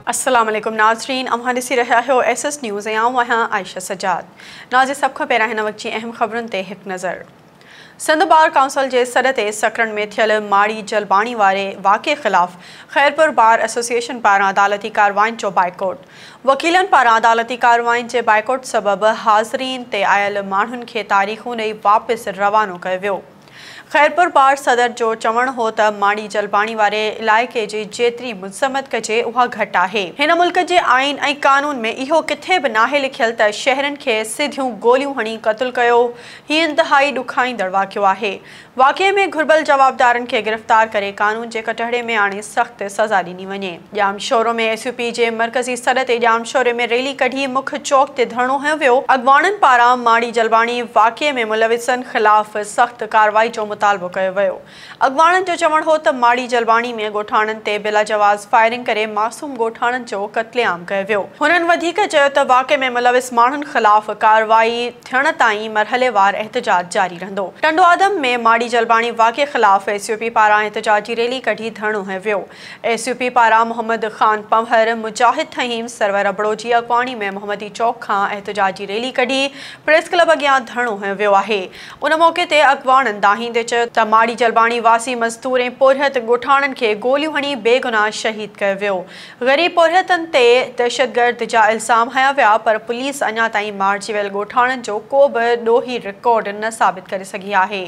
السلام عليڪم ناظرين اوهان ڏسي رهيا آهيو ايس ايس نيوز ۽ آئون آهيان عائشه سجاد ناظرين سڀ کان پهريان هن وقت جي اهم خبرن تي هڪ نظر. سنڌ بار ڪائونسل جي سڏ تي سڪرنڊ ۾ ٿيل ماڙي جلباڻي واري واقعي خلاف خيرپور بار ايسوسيئيشن پاران عدالتي ڪارروائين جو بائيڪوٽ، وڪيلن پاران عدالتي ڪارروائين جي بائيڪوٽ سبب حاضرين تي آيل ماڻهن کي تاريخون ڏئي واپس روانو ڪيو ويو. خيرپور بار صدر جو چوڻ هو ته ماڙي جلباڻي واري علائقي جي جيتري مذمت ڪجي اها گهٽ آهي. هن ملڪ جي آئين ۽ قانون ۾ اهو ڪٿي به ناهي لکيل ته شهرين کي سڌيون گوليون هڻي قتل ڪيو، هي انتهائي ڏکائيندڙ واقعو آهي، واقعي ۾ گهربل جوابدارن کي گرفتار ڪري قانون جي ڪٽهڙي ۾ آڻي سخت سزا ڏني وڃي. Jamshoro ۾ S U P جي مرڪزي سڏ تي ڄام شوري ۾ ريلي ڪڍي مک چوڪ تي ڌرڻو هنيو ويو، اڳواڻن پاران ماڙي جلواڻي واقعي ۾ ملوثن خلاف سخت ڪارروائي جو مطالبو ڪيو ويو. اڳواڻن جو چوڻ هو ته ماڙي جلواڻي ۾ ڳوٺاڻن تي بلاجواز فائرنگ ڪري معصوم ڳوٺاڻن جو قتل عام ڪيو ويو. هنن وڌيڪ چيو ته واقعي ۾ ملوث ماڻهن خلاف ڪارروائي ٿيڻ تائين مرحليوار احتجاج جاري رهندو. ٽنڊوآدم ۾ ماڙي جلواڻي واقعي خلاف ايس يو پي پاران احتجاجي ريلي ڪڍي ڌرڻو هنيو ويو. ايس يو پي پاران محمد خان پنهور، مجاهد ٿهيم، سرور ابڙو جي اڳواڻي ۾ محمدي چوڪ کان احتجاجي ريلي ڪڍي پريس ڪلب اڳيان ڌرڻو هنيو ويو آهي. ان موقعي تي اڳواڻن دانهيندي چيو ته ماڙي جلباڻي واسي مزدور ۽ پورهيت ڳوٺاڻن کي گوليون هڻي بيگناهه شهيد ڪيو ويو، غريب پورهيتن تي دهشتگرد جا الزام هنيا ويا پر پوليس اڃا تائين مارجي ويل ڳوٺاڻن جو ڪو به ڏوهي رڪارڊ نه ثابت ڪري سگهي آهي،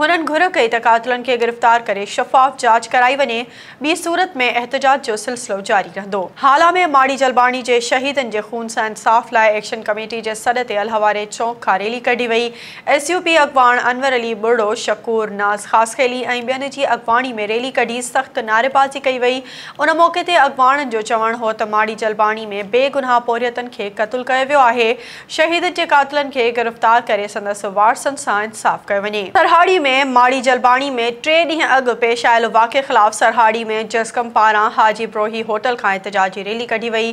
هنن گهر ڪئي ته قاتلن کي گرفتار ڪري شفاف جاچ ڪرائي وڃي. ٻي صورت ۾ احتجاج جو سلسلو جاري رهندو. هالا ۾ ماڙي جلباڻي جي شهيدن جي خون سان انصاف لاء ايڪشن ڪميٽي جي سڏ تي الهه واري چونڪ کان ريلي ڪڍي وئي، ايس يو پي اڳواڻ انور علي ٻرڙو، شڪور ناز خاصخيلي ۽ ٻين جي اڳواڻي ۾ ريلي ڪڍي سخت نعريبازي ڪئي وئي، ان موقعي تي اڳواڻن جو چوڻ هو ته ماڙي جلباڻي ۾ بي گناهه پورهيتن کي قتل ڪيو ويو آهي، شهيدن جي قاتلن کي گرفتار ڪري سندس وارثن سان انصاف ڪيو وڃي. سرهاڙي ۾ ماڙي جلباڻي ۾ ٽي ڏينهن اڳ پيش آيل واقعي خلاف سرهاڙي ۾ جسقم پاران حاجي بروهي هوٽل کان احتجاجي ريلي ڪڍي وئي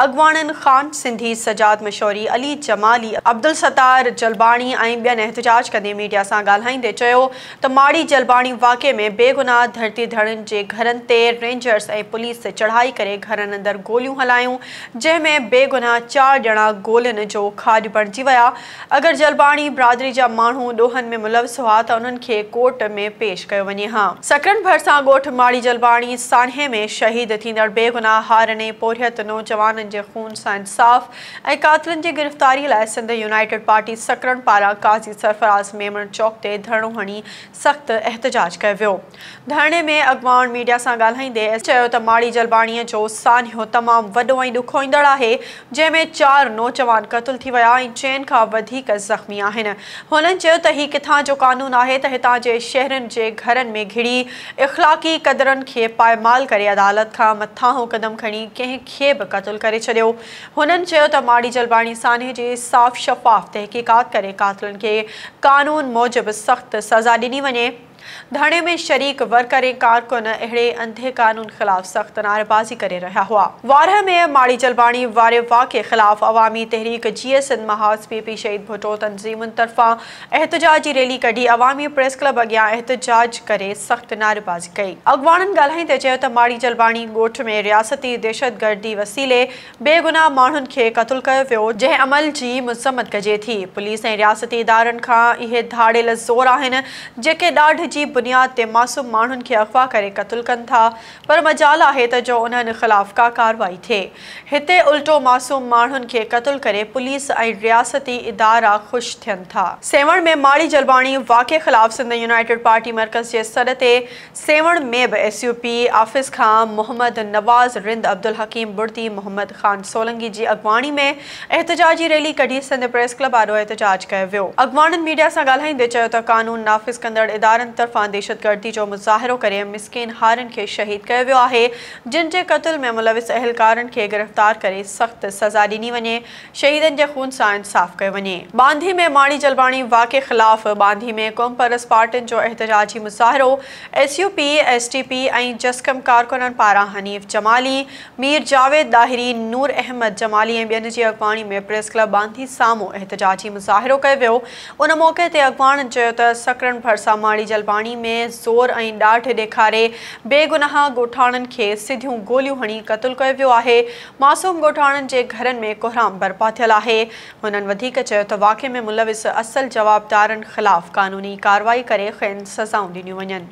اڳواڻن خان سنڌي، سجاد مشوري، علي جمالي، عبدالستار جلباڻي ۽ ٻين احتجاج ڪندي ميڊيا سان ڳالهائيندي چيو ته ماڙي جلباڻي واقعي ۾ بيگناهه ڌرتي ڌڻين جي گهرن تي رينجرز ۽ پوليس چڙهائي ڪري گهرن اندر گوليون هلايون جنهن ۾ بيگناهه چار ڄڻا گولين جو کاڄ بڻجي ويا، اگر جلباڻي برادري جا ماڻهو ڏوهن ۾ ملوث هئا ته انهن کي ڪورٽ ۾ پيش ڪيو وڃي ها. سکرن ڀرسان ڳوٺ ماڙي جلباڻي سانحي ۾ شهيد ٿيندڙ بيگناهه هارن ۽ پورهيت نوجوانن جي خون سان انصاف ۽ قاتلن جي گرفتاري لاء سنڌ يونائيٽيڊ پارٽي سکرن پاران قاضي سرفراز ميمڻ چوڪ تي ڌرڻو هڻي سخت احتجاج ڪيو ويو. ڌرڻي ۾ اڳواڻ ميڊيا سان ڳالهائيندي ايس چيو ته ماڙي جلباڻي جو سانحو تمام وڏو ۽ ڏکوئيندڙ آهي جنهن ۾ چار نوجوان قتل ٿي ويا ۽ چئن کان وڌيڪ زخمي آهن هنن چيو ته هي ڪٿان جو قانون آهي ته هتان جي شهرين جي گهرن ۾ گهڙي اخلاقي قدرن کي پائمال ڪري عدالت کان مٿانهون قدم کڻي ڪنهن کي به قتل ڪري ڇڏيو هنن چيو ته ماڙي جلباڻي سانحي جي صاف شفاف تحقيقات ڪري قاتلن کي قانون موجب سخت سزا ڏني وڃي، ڌرڻي ۾ شريڪ ورڪر ۽ ڪارڪن اهڙي انڌي قانون خلاف سخت نعريبازي ڪري رهيا هئا. وارهه ۾ ماڙي جلباڻي واري واقعي خلاف عوامي تحريڪ جيئي سنڌ محاذ پي پي شهيد ڀٽو تنظيمن طرفان احتجاج جي ريلي ڪڍي عوامي پريس ڪلب اڳيان احتجاج ڪري سخت نعريبازي ڪئي. اڳواڻن ڳالهائيندي چيو ته ماڙي جلباڻي ڳوٺ ۾ رياستي دهشتگردي وسيلي بي گناهه ماڻهن کي قتل ڪيو ويو، جنهن عمل جي مذمت ڪجي ٿي، پوليس ۽ رياستي ادارن کان اهي ڌاڙيل زور آهن جيڪي ڏاڍ جي بنياد تي معصوم ماڻهن کي اغوا ڪري قتل ڪن ٿا، پر مجال آهي ته جو انهن خلاف ڪا ڪارروائي ٿئي. هتي الٽو معصوم ماڻهن کي قتل ڪري پوليس ۽ رياستي ادارا خوش ٿين ٿا. سيوهڻ ۾ ماڙي جلباڻي واقعي خلاف سنڌ يونائيٽيڊ پارٽي مرڪز جي سڏ تي سيوهڻ ۾ به ايس يو پي آفيس کان محمد نواز رند عبدالحڪيم بڙدي محمد خان سولنگي جي اڳواڻي ۾ احتجاجي ريلي ڪڍي سنڌ پريس ڪلب آڏو احتجاج ڪيو ويو. اڳواڻن ميڊيا سان ڳالهائيندي چيو ته قانون نافذ ڪندڙ ادارن طرفان دهشتگردي جو مظاهرو ڪري مسڪين هارين کي شهيد ڪيو ويو آهي، جن جي قتل ۾ ملوث اهلڪارن کي گرفتار ڪري سخت سزا ڏني وڃي، شهيدن جي خون سان انصاف ڪيو وڃي. ٻانڌي ۾ ماڻي جلباڻي واقعي خلاف ٻانڌي ۾ قومپرست پارٽين جو احتجاجي مظاهرو، S U P, S T P ۽ جسقم ڪارڪنن پاران حنيف جمالي، مير جاويد ڏاهري، نور احمد جمالي ۽ ٻين جي اڳواڻي ۾ پريس ڪلب باندي سامهون احتجاجي مظاهرو ڪيو ويو، ان موقعي تي اڳواڻن چيو ته سڪرنڊ ڀرسان ماڙي جلباڻي ۾ زور ۽ ڏاڍ ڏيکاري بيگناهه ڳوٺاڻن کي سڌيون گوليون هڻي قتل ڪيو ويو آهي، معصوم ڳوٺاڻن جي گهرن ۾ ڪوهرام برپا ٿيل آهي، هنن وڌيڪ چيو ته واقعي ۾ ملوث اصل جوابدارن خلاف قانوني ڪارروائي ڪري کين سزائون ڏنيون وڃن.